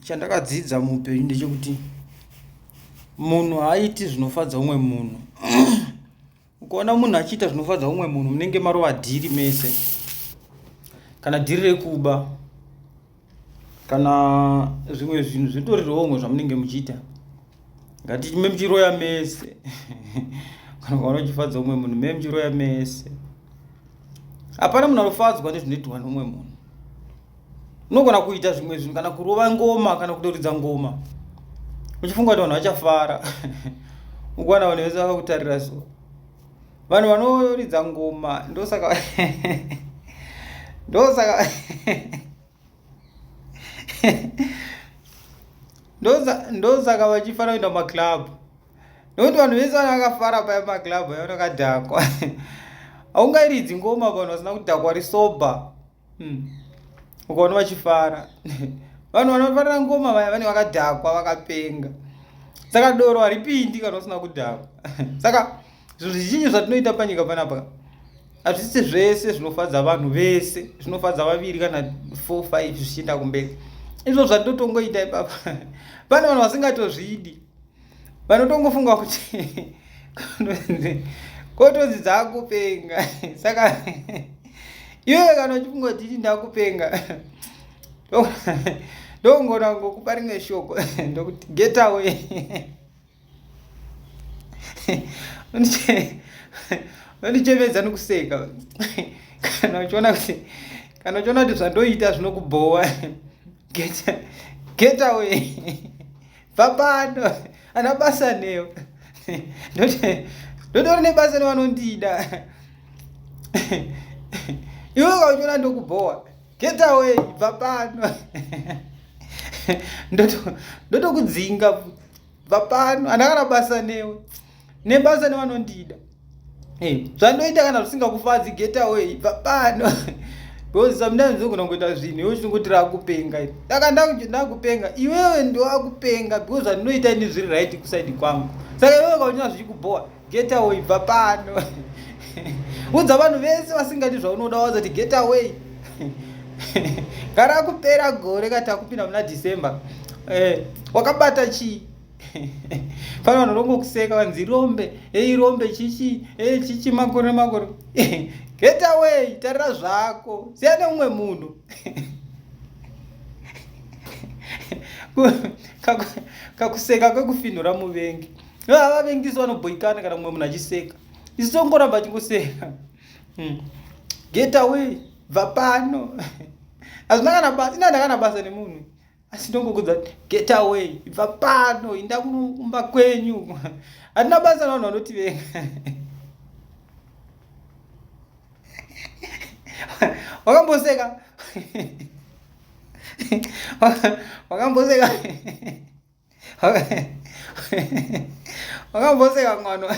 chandakadzidza muupenyu ndechekuti munhu haaiti zvinofadza umwe munhu ukaona munhu achiita zvinofadza umwe munhu munenge marova dhiri mese kana dhiri rekuba kana zvimwe zvinhu zvitori romwe zvamunenge muchiita ngatime muchiroya mese kana ukaona uchifadza umwe munhu me muchiroya mese hapana munhu anofadzwa nezvinoitwa neumwe munhu unogona kuita zvimwe zvinhu kana kurova ngoma kana kutoridza ngoma uchifunga kuti vanhu vachafara ukuwana vanhu vese vakakutarira so vanhu vanoridza ngoma ndosaka ndosaka ndosaka vachifana kuenda mumaclub nokuti vanhu vese vana vakafara paya maclub ayo vakadhakwa haungairidzi ngoma vanhu vasina kudhakwa risobha hmm. ukaona vachifara vanhu vanofarira ngoma vaya vane vakadhakwa vakapenga saka doro haripindi kana usina kudhakwa saka zvinhu zvizhinji zvatinoita panyika panapa hazvisi zvese zvinofadza vanhu vese zvinofadza vaviri kana four five zvichienda kumberi izvo zvatitotongoita ipapa pane vanhu vasingatozvidi vanotongofunga kuti kotonzi dzakupenga saka iwewe kana uchifunga kuti iti ndakupenga ndongona ngokupa rimwe shoko ndokuti get away vandichemedza nokuseka kana uchiona kuti kana uchiona kuti zvandoita zvinokubhowa get away bva pano ana basa newe ndotori nebasa nevanondida iwe ukauchona ndokubhowa get away bva pano ndotokudzinga bva pano andakana basa newe nebasa nevanondida hey, eh, zvandoita kana zvisingakufadzi get away bva pano because sometimes unogona kuita zvinhu iwe uchingoti rakupenga saka ndakupenga iwewe ndowakupenga because zvandinoita ini zviri right kusaidi kwangu saka iwewe kaunyaa zvichikubhowa get away bva pano udza vanhu vese vasingadi zvaunoda wazati get away gara kupera gore kati akupinda muna december eh, wakabata chii pano vanhu rongokuseka vanzi rombe ei rombe chichi ei chichi makore makore get away tarira zvako siya neumwe munhu kakuseka kwekufinhura muvengi vavavengisi vanobhoikana kana mumwe munhu achiseka isu tongoramba chingoseka hmm. get away bva pano hazvina kana basa ina ndakana basa nemunhu asi ndongokuudza kuti get away ibva pano inda kunoumba kwenyu hatina basa navanhu vanotivenga wakamboseka wakamboseka wakamboseka mwana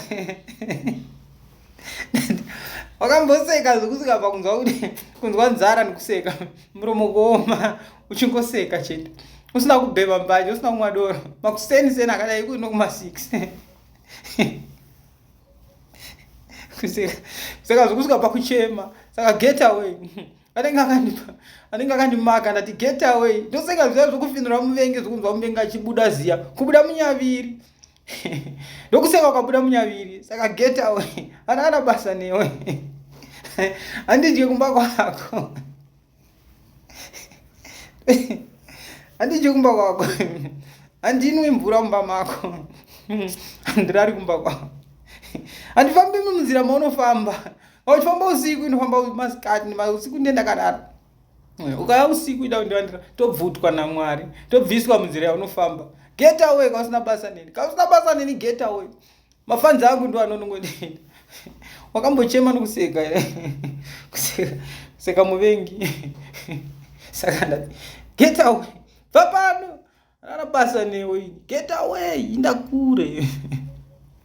wakamboseka zvekusvika pakunzwa kuti kunzwa nzara nekuseka muromo kuoma uchingoseka chete usina kubhema mbanje usina kumwa doro makuseni seni akadai ikuti nokuma six kuseka zvekusvika pakuchema saka get away anenge akandipa anenge akandimaka ndati get away ndosenga zviya zvokufinura muvengi zvokunzwa muvengi achibuda ziya kubuda munyaviri ndokuseka ukabuda munyaviri saka get away ana ana basa newe handidye kumba kwako handidye kumba kwako handinwi mvura mumba mako handirari kumba kwako handifambi munzira maunofamba uchifamba usiku inofamba masikati usiku ndiye ndakadaro eh, ukaya usiku ida kundivandira tobvutwa namwari tobviswa munzira yaunofamba get away kausina basa neni kausina basa neni get away mafanzi angu ndo anonongondiita wakambochema nokuseka kuseka muvengi saka ndati get away bva pano rara basa newe get away inda kure